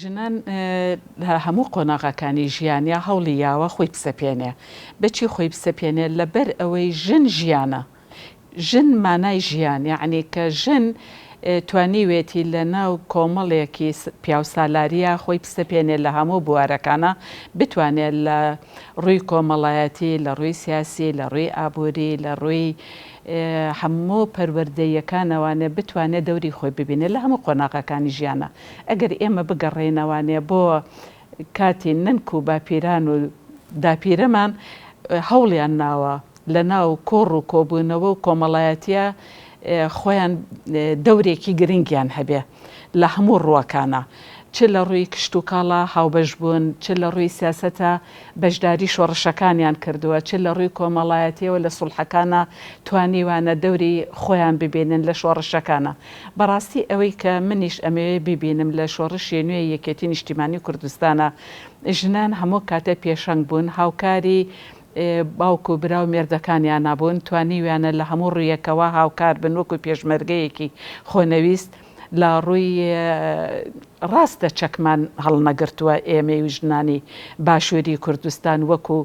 ژنان لە هەموو قۆناغەکانی ژیانیا هەوڵی یاوە خۆی بسەپێنێ. بەچی خۆی بسەپێنێ؟ لەبەر ئەوەی ژن ژیانە. ژن مانای ژیان. یەعنی کە ژن توانیوێتی لە ناو کۆمەڵێکی پیاوسالاریا خۆی بسەپێنێ لە هەموو بوارەکانا، بتوانێ لە ڕووی کۆمەڵایەتی، لە ڕووی سیاسی، لە ڕووی ئابووری، لە ڕووی هەموو پەروەردەییەکانەوانێ بتوانێ دەوری خۆی ببینێ لە هەموو قۆناغەکانی ژیانا. ئەگەر ئێمە بگەڕێینەوانێ بۆ کاتی نەنک و باپیران و داپیرەمان هەوڵیان ناوە لەناو کۆڕ و کۆبوونەوە و کۆمەڵایەتیە خۆیان دەورێکی گرنگیان هەبێ لە هەموو ڕووەکانا چ لە ڕووی کشتوکاڵا هاوبەش بوون چ لە ڕووی سیاسەتا بەشداری شۆڕشەکانیان کردووە، چ لە ڕووی کۆمەڵایەتیەوە لە سوڵحەکانا توانیوانە دەوری خۆیان ببینن لە شۆڕشەکانا. بەڕاستی ئەوەی کە منیش ئەمەوێ بیبینم لە شۆڕشی نوێی یەکێتی نیشتیمانی کوردستانا ژنان هەموو کاتێ پێشەنگ بوون هاوکاری باوک و برا و مێردەکانیانا بوون توانیویانە لە هەموو ڕوویەکەوە هاوکار بن وەکو پێشمەرگەیەکی خۆنەویست لە ڕووی ڕاستە چەکمان هەڵنەگرتووە، ئێمەی و ژنانی باشووری کوردستان وەکو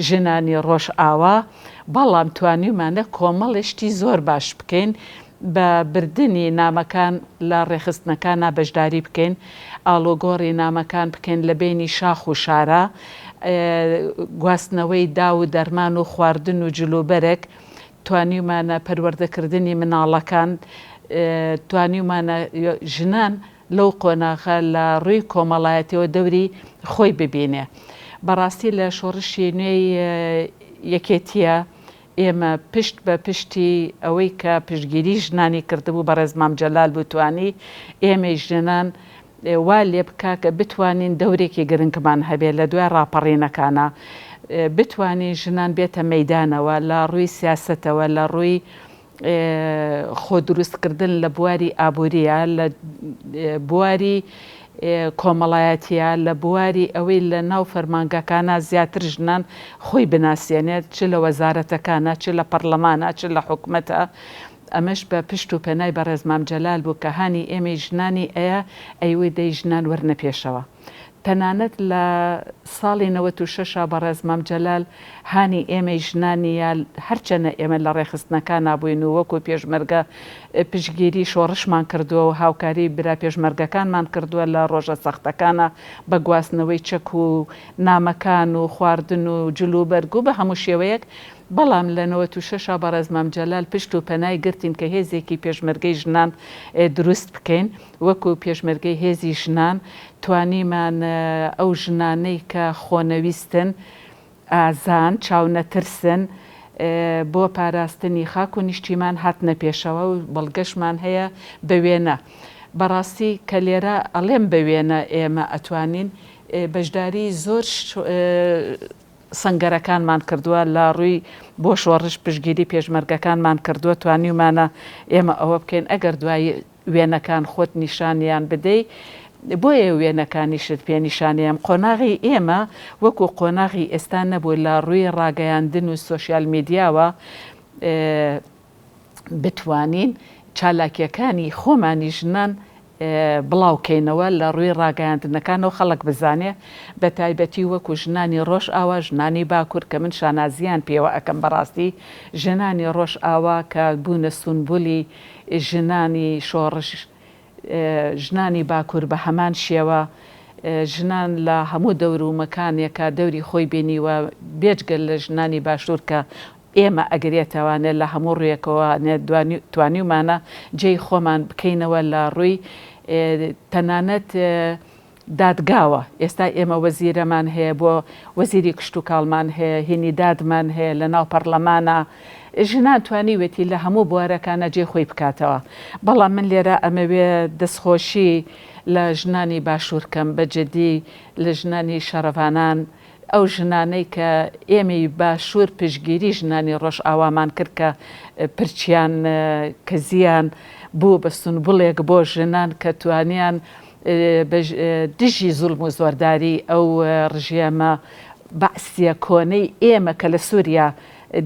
ژنانی ڕۆژئاوا، بەڵام توانیومانە کۆمەڵێ شتی زۆر باش بکەین، بە بردنی نامەکان لە ڕێکخستنەکانا بەشداری بکەین، ئاڵوگۆڕی نامەکان بکەین لە بەینی شاخ و شارا، گواستنەوەی داو و دەرمان و خواردن و جلوبەرگ، توانیومانە پەروەردەکردنی مناڵەکان، توانیومانە ژنان لەو قۆناغە لە ڕووی کۆمەڵایەتیەوە دەوری خۆی ببینێ. بەڕاستی لە شۆڕشی نوێی یەکێتیە ئێمە پشت بە پشتی ئەوەی کە پشتگیری ژنانی کردبوو بەڕێز مام جەلال بوو توانی ئێمەی ژنان وا لێبکە کە بتوانین دەورێکی گرنگمان هەبێت لە دوای ڕاپەڕینەکانا، بتوانین ژنان بێتە مەیدانەوە لە ڕووی سیاسەتەوە، لە ڕووی خۆدروستکردن لە بواری ئابوورییە، لە بواری کۆمەڵایەتییە، لە بواری ئەوەی لە ناو فەرمانگەکانا زیاتر ژنان خۆی بناسێنێت، چ لە وەزارەتەکانا، چ لە پەڕڵەمانا، چ لە حکومەتا. ئەمەش بە پشت و پەنای بەڕێز مام جەلال بوو کە هانی ئێمەی ژنانی ئەیا ئەیوت دەی ژنان وەرنە پێشەوە تەنانەت لە ساڵی نەوەت و شەش ەوە بەڕێز مام جەلال هانی ئێمەی ژنانی یا هەرچەنە ئێمە لە ڕێخستنەکانا بووین و وەکو پێشمەرگە پشتگیری شۆڕشمان کردووە و هاوکاری برا پێشمەرگەکانمان کردووە لە ڕۆژە سەختەکانا بە گواستنەوەی چەک و نامەکان و خواردن و جلوبەرگ و بە هەموو شێوەیەک بەڵام لە نەوەت و شەش ەوە بەڕێز مام جەلال پشت و پەنای گرتین کە هێزێکی پێشمەرگەی ژنان دروست بکەین وەکو پێشمەرگەی هێزی ژنان توانیمان ئەو ژنانەی کە خۆنەویستن ئازان چاونەترسن بۆ پاراستنی خاک و نیشتیمان هاتنە پێشەوە و بەڵگەشمان هەیە بە وێنە بەڕاستی کە لێرە ئەڵێم بە وێنە ئێمە ئەتوانین بەشداری زۆر سەنگەرەکانمان کردووە، لە ڕووی بۆ شۆڕش پشتگیری پێشمەرگەکانمان کردووە، توانیومانە ئێمە ئەوە بکەین، ئەگەر دوای وێنەکان خۆت نیشانیان بدەی، بۆیە وێنەکانیشت پێ نیشانیم، قۆناغی ئێمە وەکو قۆناغی ئێستا نەبوو لە ڕووی ڕاگەیاندن و سۆشیال میدیاوە، بتوانین چالاکیەکانی خۆمانی ژنان بڵاو کەینەوە لە ڕووی ڕاگەیاندنەکانەوە خەڵک بزانێ بە تایبەتی وەکو ژنانی ڕۆژ ئاوا ژنانی باکور کە من شانازیان پێوە ئەکەم بەڕاستی ژنانی ڕۆژ ئاوا کە بوونە سونبولی ژنانی شۆڕش ژنانی باکور بە هەمان شێوە، ژنان لە هەموو دەور و مەکانێکا دەوری خۆی بینیوە، بێجگە لە ژنانی باشور کە ئێمە ئەگرێتەوانێ لە هەموو ڕوویەکەوانێ توانیومانە جێی خۆمان بکەینەوە لە ڕووی تەنانەت دادگاوە، ئێستا ئێمە وەزیرەمان هەیە بۆ وەزیری کشتوکاڵمان هەیە، هینی دادمان هەیە لەناو پەڕلەمانا، ژنان توانیوێتی لە هەموو بوارەکانا جێی خۆی بکاتەوە، بەڵام من لێرا ئەمەوێ دەستخۆشی لە ژنانی باشوور کەم بە جدی لە ژنانی شەڕڤانان ئەو ژنانەی کە ئێمەی باشوور پشتگیری ژنانی ڕۆژئاوامان کرد کە پرچیان کزیان بوو بە سونبوڵێک بۆ ژنان کە توانیان بە دژی زوڵم و زۆرداری ئەو ڕژێمە بەعسیە کۆنەی ئێمە کە لە سوریا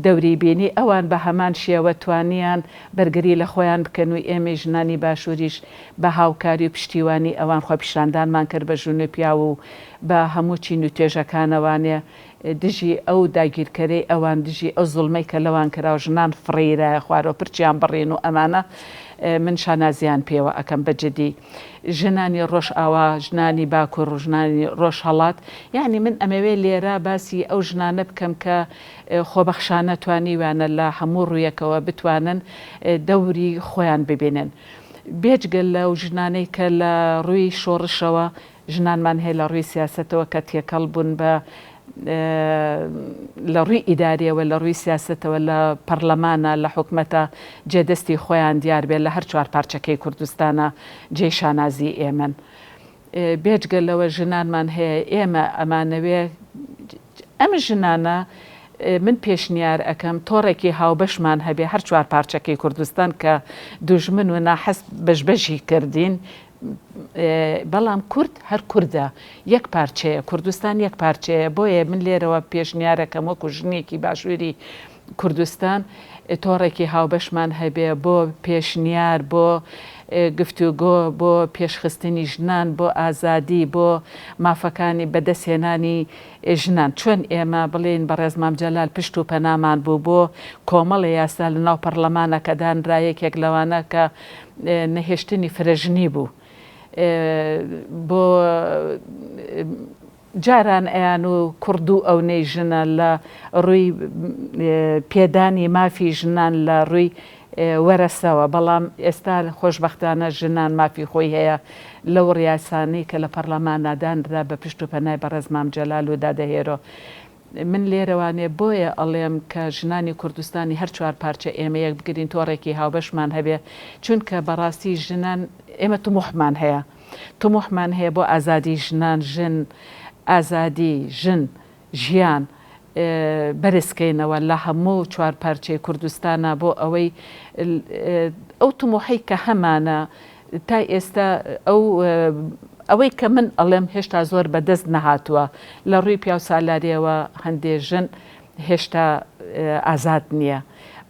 دەوری بینی ئەوان بە هەمان شێوە توانیان بەرگری لە خۆیان بکەن و ئێمەی ژنانی باشوریش بە هاوکاری و پشتیوانی ئەوان خۆپیشاندانمان کرد بە ژن و پیاو و بە هەموو چین و توێژەکانەوانێ دژی ئەو داگیرکەرەی ئەوان دژی ئەو زوڵمەی کە لەوان کرا و ژنان فڕێیرایە خوارەوە پرچیان بڕین و ئەمانە من شانازیان پێوە ئەکەم بە جدی ژنانی ڕۆژئاوا ژنانی باکور و ژنانی ڕۆژهەڵات یانی من ئەمەوێ لێرە باسی ئەو ژنانە بکەم کە خۆبەخشانە توانیویانە لە هەموو ڕوویەکەوە بتوانن دەوری خۆیان ببینن بێجگە لەو ژنانەی کە لە ڕووی شۆڕشەوە ژنانمان هەیە لە ڕووی سیاسەتەوە کە تێکەڵ بوون بە لە ڕووی ئیداریەوە لە ڕووی سیاسەتەوە لە پەڕلەمانە لە حکومەتە جێ دەستی خۆیان دیار بێت لە هەر چوار پارچەکەی کوردستانە جێی شانازی ئێمەن بێجگە لەوە ژنانمان هەیە ئێمە ئەمانەوێ ئەم ژنانە من پێشنیار ئەکەم تۆڕێکی هاوبەشمان هەبێ هەر چوار پارچەکەی کوردستان کە دوژمن و ناحەز بەش بەشی کردین بەڵام کورد هەر کوردە، یەک پارچەیە، کوردستان یەک پارچەیە، بۆیە من لێرەوە پێشنیارەکەم وەکو ژنێکی باشووری کوردستان تۆڕێکی هاوبەشمان هەبێ بۆ پێشنیار، بۆ گفتوگۆ، بۆ پێشخستنی ژنان، بۆ ئازادی، بۆ مافەکانی بەدەستهێنانی ژنان، چۆن ئێمە بڵێین بەڕێز مام جەلال پشت و پەنامان بوو بۆ کۆمەڵێ یاسا لەناو پەڕڵەمانەکە دانرا، یەکێک لەوانە کە نەهێشتنی فرەژنی بوو بۆ جاران ئەیان و کوڕ دوو ئەونەی ژنە لە ڕووی پێدانی مافی ژنان لە ڕووی وەرەسەوە بەڵام ئێستا خۆشبەختانە ژنان مافی خۆی هەیە لەو ڕیاسانەی کە لە پەڕلەمانا دانرا بە پشت و پەنای بەڕێز مام جەلال و دادە هێرۆ من لێرەوانێ بۆیە ئەڵێم کە ژنانی کوردستانی هەر چوار پارچە ئێمە یەک بگرین تۆڕێکی هاوبەشمان هەبێ چونکە بەڕاستی ژنان ئێمە تموحمان هەیە تموحمان هەیە بۆ ئازادی ژنان ژن ئازادی ژن ژیان بەرز کەینەوە لە هەموو چوار پارچەی کوردستانا بۆ ئەوەی ئەو تموحەی کە هەمانە تا ئێستا ئەو ئەوەی کە من ئەڵێم هێشتا زۆر بەدەست نەهاتووە لە ڕووی پیاوسالاریەوە هەندێ ژن هێشتا ئازاد نییە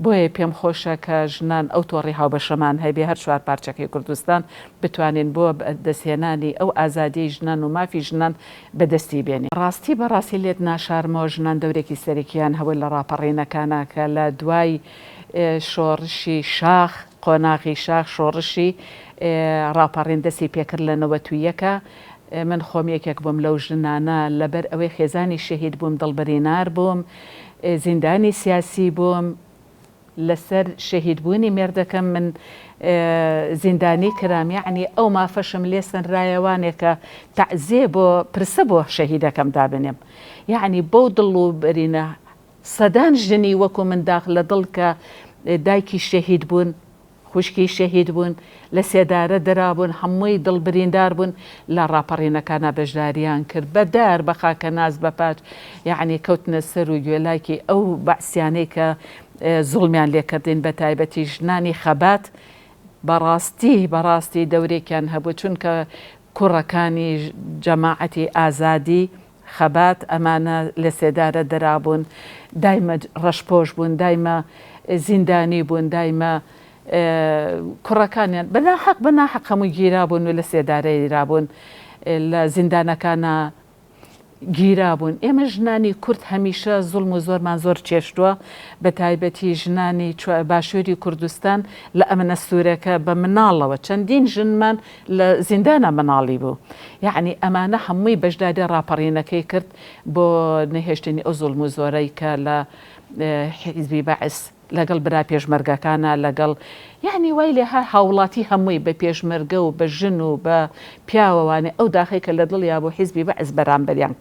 بۆیە پێم خۆشە کە ژنان ئەو تۆڕی هاوبەشەمان هەبێ هەر چوار پارچەکەی کوردستان بتوانین بۆ دەستهێنانی ئەو ئازادیەی ژنان و مافی ژنان بەدەستی بێنین. ڕاستی بە ڕاستی لێت ناشارمەوە ژنان دەورێکی سەرەکیان هەبوو لە ڕاپەڕینەکانا کە لە دوای شۆڕشی شاخ، قۆناغی شاخ شۆڕشی ڕاپەڕین دەستی پێکرد لە نەوەت و یەک ە من خۆم یەکێک بووم لەو ژنانە لەبەر ئەوەی خێزانی شەهید بووم دڵبرینار بووم زیندانی سیاسی بووم لەسەر شەهید بوونی مێردەکەم من زیندانی کرام یەعنی ئەو مافەشم لێ سەنرایە وانێ کە تەعزیە بۆ پرسە بۆ شەهیدەکەم دابنێم یەعنی بەو دڵ و برینە سەدان ژنی وەکو من داخ لە دڵ کە دایکی شەهید بوون، خوشکی شەهید بوون، لە سێدارە درابوون، هەمووی دڵ بریندار بوون، لە ڕاپەڕینەکانا بەشداریان کرد، بە دار، بە خاکەناس، بە پاچ، یەعنی کەوتنە سەر و گوێلاکی ئەو بەعسیانەی کە زوڵمیان لێ کردین، بە تایبەتی ژنانی خەبات، بە ڕاستی، بە ڕاستی دەورێکیان هەبوو، چونکە کوڕەکانی جەماعەتی ئازادی خەبات، ئەمانە لەسێدارە دەرابوون، دایمە ڕەشپۆش بوون، دایمە زیندانی بوون، دایمە کوڕەکانیان بە ناحەق بە ناحەق هەمووی گیرابوون و لەسێدارەیرابوون، لە زیندانەکانا گیرابوون، ئێمە ژنانی کورد هەمیشە زوڵم و زۆرمان زۆر چێشتووە، بە تایبەتی ژنانی باشووری کوردستان لە ئەمنە سوورەکە بە مناڵەوە چەندین ژنمان لە زیندانا مناڵی بوو یەعنی ئەمانە هەمووی بەژدادی ڕاپەڕینەکەی کرد بۆ نەهێشتنی ئەو زوڵم و زۆرەی کە لە حیزبی بەعس لەگەڵ برا پێشمەرگەکانا لەگەڵ یەعنی وای لێ هات هاوڵاتی هەمووی بە پێشمەرگە و بە ژن و بە پیاوە وانێ ئەو داخەی کە لە دڵیا بۆ حیزبی بەعس بەرامبەریان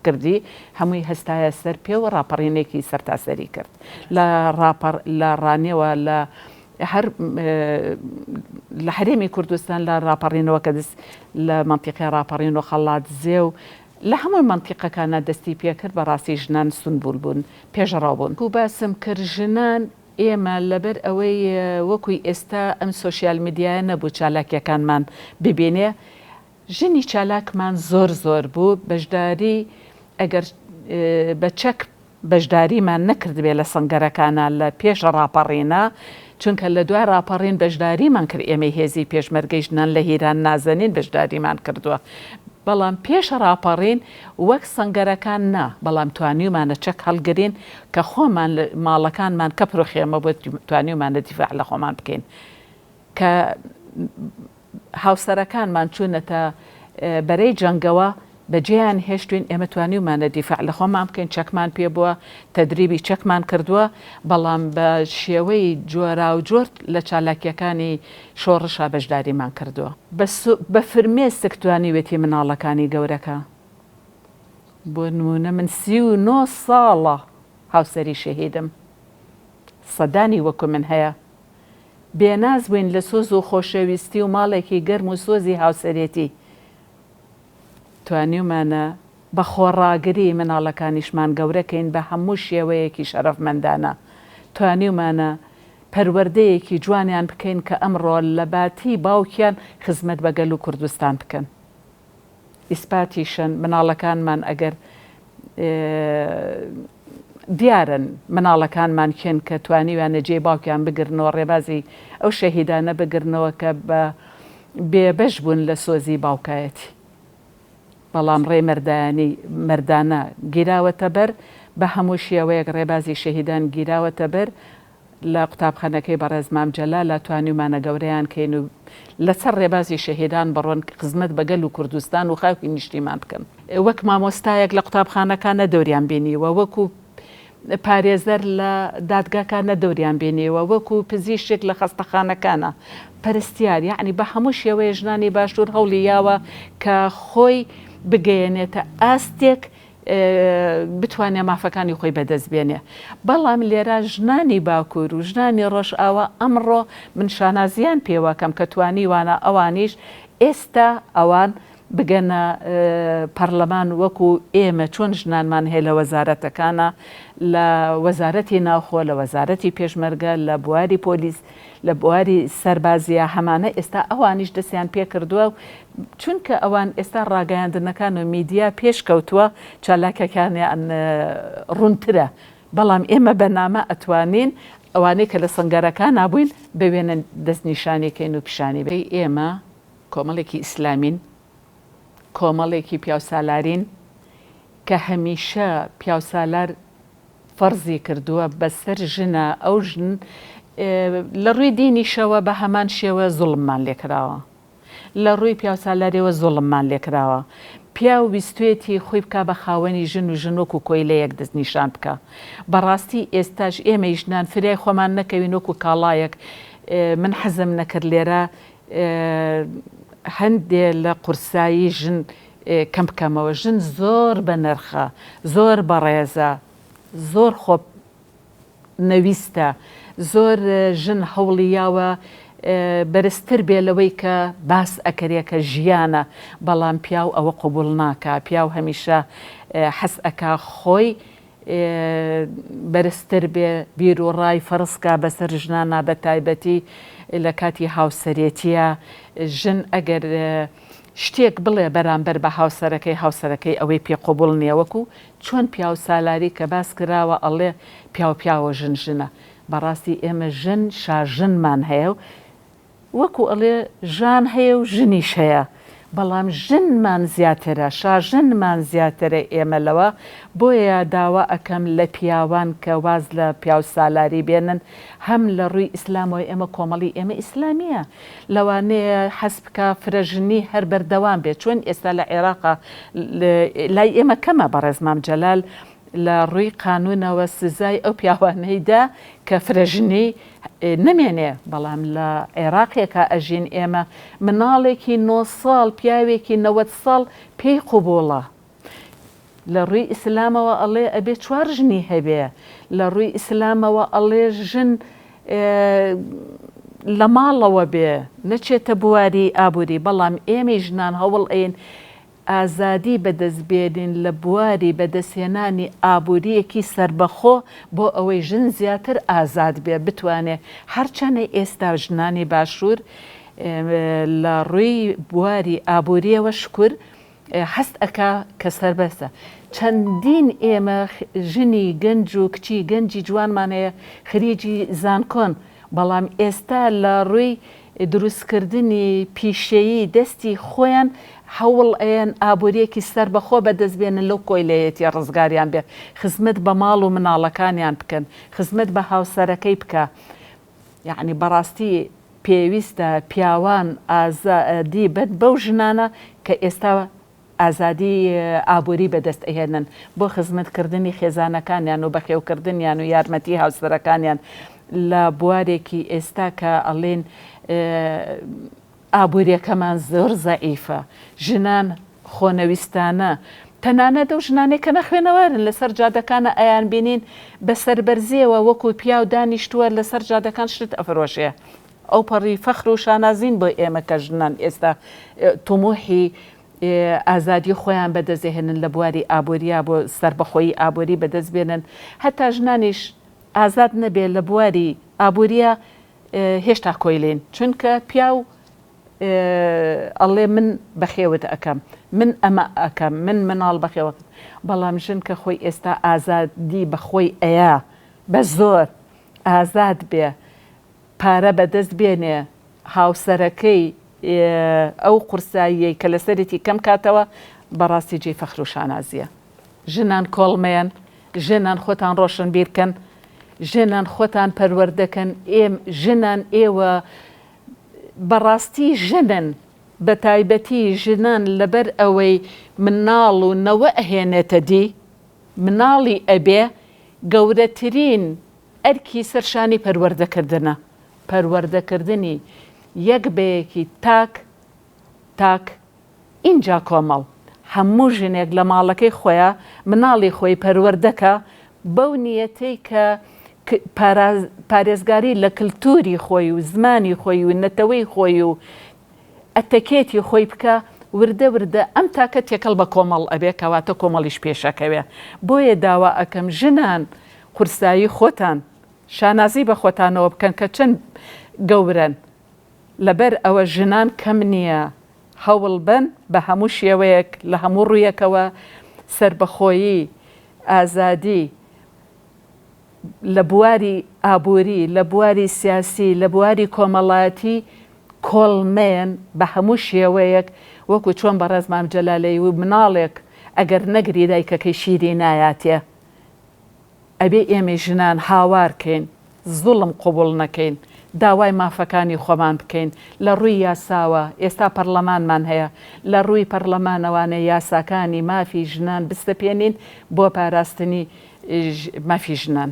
کردی هەمووی هەستایە سەر پێ و ڕاپەڕینێکی سەرتاسەری کرد لە ڕاپەڕ لە ڕانێوە لە هەر لە هەرێمی کوردستان لە ڕاپەڕینەوە کە دەست لە مەنتیقی ڕاپەڕین و قەڵادزێ و لە هەموو مەنتیقەکانا دەستی پێ کرد بەڕاستی ژنان سونبول بوون، پێشڕەو بوون. وەکو باسم کرد ژنان ئێمە لەبەر ئەوەی وەکوی ئێستا ئەم سۆشیال میدیایە نەبوو چالاکیەکانمان ببینێ ژنی چالاکمان زۆر زۆر بوو بەشداری ئەگەر بە چەک بەشداریمان نەکردبێ لە سەنگەرەکانا لە پێش ڕاپەڕینا چونکە لە دوای ڕاپەڕین بەشداریمان کرد ئێمەی هێزی پێشمەرگەی ژنان لە هیران نازەنین بەشداریمان کردووە بەڵام پێش ڕاپەڕین وەک سەنگەرەکان نا بەڵام توانیومانە چەک هەڵگرین کە خۆمان ماڵەکانمان کەپرو خێمە بوو توانیومانە دیفاع لە خۆمان بکەین کە هاوسەرەکانمان چوونەتە بەرەی جەنگەوە بەجێیان هێشتوین، ئێمە توانیومانە دیفاع لە خۆمان بکەین، چەکمان پێ بووە، تەدریبی چەکمان کردووە، بەڵام بە شێوەی جۆراوجۆر لە چالاکییەکانی شۆڕشا بەشداریمان کردووە. بە فرمێسک توانیوێتی مناڵەکانی گەورەکە، بۆ نموونە من سی و نۆ ساڵە هاوسەری شەهیدم، سەدانی وەکو من هەیە، بێناز بووین لە سۆز و خۆشەویستی و ماڵێکی گەرم و سۆزی هاوسەرێتی توانیومانە بە خۆڕاگری مناڵەکانیشمان گەورە کەین بە هەموو شێوەیەکی شەرەفمەندانە توانیومانە پەروەردەیەکی جوانیان بکەین کە ئەمڕۆ لە باتی باوکیان خزمەت بە گەل و کوردستان بکەن. ئیسپاتیشن مناڵەکانمان ئەگەر دیارن مناڵەکانمان کێن کە توانیویانە جێی باوکیان بگرنەوە ڕێبازی ئەو شەهیدانە بگرنەوە کە بە بێ بەش بوون لە سۆزی باوکایەتی بەڵام ڕێی مەردایانی مەردانە گیراوەتە بەر بە هەموو شێوەیەک ڕێبازی شەهیدان گیراوەتە بەر لە قوتابخانەکەی بەڕێز مام جەلالە توانیومانە گەورەیان کەین و لەسەر ڕێبازی شەهیدان بڕۆن کە خزمەت بە گەل و کوردستان و خاکی نیشتیمان بکەن. وەک مامۆستایەک لە قوتابخانەکە نە دەوریان بینیوە، وەکو پارێزەر لە دادگاکە نە دەوریان بینیوە، وەکو پزیشک لە خەستەخانەکانە، پەرستیار، یەعنی بە هەموو شێوەیە ژنانی باشوور هەوڵی یاوە کە خۆی بگەیەنێتە ئاستێک بتوانێ مافەکانی خۆی بەدەست بێنێ بەڵام لێرا ژنانی باکوور و ژنانی ڕۆژئاوا ئەمڕۆ من شانازیان پێوەکەم کە توانیوانە ئەوانیش ئێستا ئەوان بگەنە پەڕلەمان وەکو ئێمە چۆن ژنانمان هەیە لە وەزارەتەکانا لە وەزارەتی ناوخۆ لە وەزارەتی پێشمەرگە لە بواری پۆلیس لە بواری سەربازییە هەمانە ئێستا ئەوانیش دەستیان پێکردوە و چونکە ئەوان ئێستا ڕاگەیاندنەکان و میدیا پێشکەوتوە چالاکەکانیان ڕونترە بەڵام ئێمە بە نامە ئەتوانین ئەوانەی کە لە سەنگەرەکانا بوین بە وێنە دەستنیشانی کەین و پیشانی دەی ئێمە کۆمەڵێکی ئیسلامین کۆمەڵێکی پیاوسالارین کە هەمیشە پیاوسالار فەرزی کردووە بەسەر ژنە ئەو ژن لە ڕووی دینیشەوە بە هەمان شێوە زوڵممان لێ کراوە لە ڕووی پیاوسالاریەوە زوڵممان لێ کراوە پیاو ویستوێتی خۆی بکا بە خاوەنی ژن و ژن وەکو کۆیلەیەک دەست نیشان بکا بەڕاستی ئێستاش ئێمەی ژنان فریای خۆمان نەکەوین وەکو کاڵایەک من حەزم نەکرد لێرە هەندێ لە قورسایی ژن کەم بکەمەوە ژن زۆر بە نرخە زۆر بەڕێزە زۆر خۆ نەویستە زۆر ژن هەوڵی یاوە بەرزتر بێ لەوەی کە باس ئەکرێ کە ژیانە بەڵام پیاو ئەوە قبول ناکا پیاو هەمیشە حەز ئەکا خۆی بەرزتر بێ بیرو ڕای فەرز کا بەسەر ژنانا بە تایبەتی لە کاتی هاوسەرێتیە ژن ئەگەر شتێک بڵێ بەرامبەر بە هاوسەرەکەی هاوسەرەکەی ئەوەی پێ قبوڵ نیە وەکو چۆن پیاو سالاری کە باس کراوە ئەڵێ پیاو پیاوە ژن ژنە بەڕاستی ئێمە ژن شاژنمان هەیە و وەکو ئەڵێ ژان هەیە و ژنیش هەیە بەڵام ژنمان زیاترە شاژنمان زیاترە ئێمە لەوە بۆیە داوا ئەکەم لە پیاوان کە واز لە پیاو سالاری بێنن هەم لە ڕوی ئیسلامەوە ئێمە کۆمەڵی ئێمە ئیسلامیە لەوانەیە حەز بکا فرەژنی هەر بەردەوام بێ چۆن ئێستا لە عێراقا لای ئێمە کەمە بەڕێز مام جەلال لە ڕووی قانوونەوە سزای ئەو پیاوانەی دا کە فرەژنی نەمێنێ بەڵام لە عێراقێکا ئەژین ئێمە مناڵێکی نۆ ساڵ پیاوێکی نەوەد ساڵ پێی قوبوڵە لە ڕوی ئیسلامەوە ئەڵێ ئەبێ چوار ژنی هەبێ لە ڕوی ئیسلامەوە ئەڵێ ژن لە ماڵەوە بێ نەچێتە بواری ئابوری بەڵام ئێمەی ژنان هەوڵ ئەین ئازادی بەدەست بێنین لە بواری بەدەست هێنانی ئابوریەکی سەربەخۆ بۆ ئەوەی ژن زیاتر ئازاد بێ بتوانێ هەرچەنە ئێستا ژنانی باشور لە ڕوی بواری ئابوریەوە شکور هەست ئەکا کە سەربەستە. چەندین ئێمە ژنی گەنج و کچی گەنجی جوانمان هەیە خریجی زانکۆن، بەڵام ئێستا لە ڕووی دروستکردنی پیشەیی دەستی خۆیان هەوڵ ئەیەن ئابوورییەکی سەربەخۆ بەدەست بێنن لەو کۆیلەیەتیە ڕزگاریان بێ خزمەت بە ماڵ و مناڵەکانیان بکەن خزمەت بە هاوسەرەکەی بکا. یەعنی بەڕاستی پێویستە پیاوان ئازادی بەن بەو ژنانە کە ئێستا ئازادی ئابوری بەدەست ئەهێنن بۆ خزمەت کردنی خێزانەکانیان و بەخێو کردنیان و یارمەتی هاوسەرەکانیان لە بوارێکی ئێستا کە ئەڵێن ئابووریەکەمان زۆر زەعیفە، ژنان خۆنەویستانە، تەنانەت ئەو ژنانەی کە نەخوێنەوارن لەسەر جادەکانە ئەیانبینین بە سەربەرزیەوە وەکو پیاو دانیشتووە لەسەر جادەکان شت ئەفرۆشێ، ئەوپەڕی فەخر و شانازین بۆ ئێمە کە ژنان ئێستا تموحی ئازادی خۆیان بەدەستدەهێنن لە بواری ئابووریا بۆ سەربەخۆیی ئابووری بەدەستبێنن، هەتا ژنانیش ئازاد نەبێ لە بواری ئابووریا، هێشتا کۆیلەین چونکە پیاو ئەڵێ من بەخێوت ئەکەم من ئەمە ئەکەم من مناڵ بەخێوەکەم بەڵام ژن کە خۆی ئێستا ئازادی بەخۆی ئەیا بەزۆر ئازاد بێ پارە بەدەست بێنێ هاوسەرەکەی ئەو قورساییەی کە لەسەرێتی کەم کاتەوە بەڕاستی جێی فەخرو شانازیە. ژنان کۆڵمەیەن، ژنان خۆتان ڕۆشنبیر کەن، ژنان خۆتان پەروەردە کەن، ئێم، ژنان، ئێوە بە ڕاستی ژنن، بە تایبەتی ژنان لەبەر ئەوەی مناڵ و نەوە ئەهێنێتە دی، مناڵی ئەبێ، گەورەترین ئەرکی سەر شانی پەروەردە کردنە، پەروەردە کردنی یەک بەیەکی تاک تاک، ئینجا کۆمەڵ هەموو ژنێک لە ماڵەکەی خۆیا مناڵی خۆی پەروەردەکا بەو نیەتەی کە پارێزگاری لە کلتوری خۆی و زمانی خۆی و نەتەوەی خۆی و ئەتەکێتی خۆی بکا وردە وردە ئەم تاکە تێکەڵ بە کۆمەڵ ئەبێ کەواتە کۆمەڵیش پێشەکەوێ بۆیە داوا ئەکەم ژنان قورسایی خۆتان شانازی بە خۆتانەوە بکەن کە چەند گەورەن لەبەر ئەوە ژنان کەم نییە هەوڵ بەن بە هەموو شێوەیەک لە هەموو ڕوویەکەوە سەربەخۆیی، ئازادی لە بواری ئابووری، لە بواری سیاسی، لە بواری کۆمەڵایەتی کۆڵنەیەن بە هەموو شێوەیەک وەکو چۆن بەڕێز مام جەلال دەیوت مناڵێک ئەگەر نەگری دایکەکەی شیری نایاتێ. ئەبێ ئێمەی ژنان هاوار کەین، زوڵم قبوڵ نەکەین، داوای مافەکانی خۆمان بکەین لە ڕووی یاساوە، ئێستا پەڕڵەمانمان هەیە، لە ڕووی پەڕڵەمانەوانە یاساکانی مافی ژنان بسەپێنین بۆ پاراستنی مافی ژنان.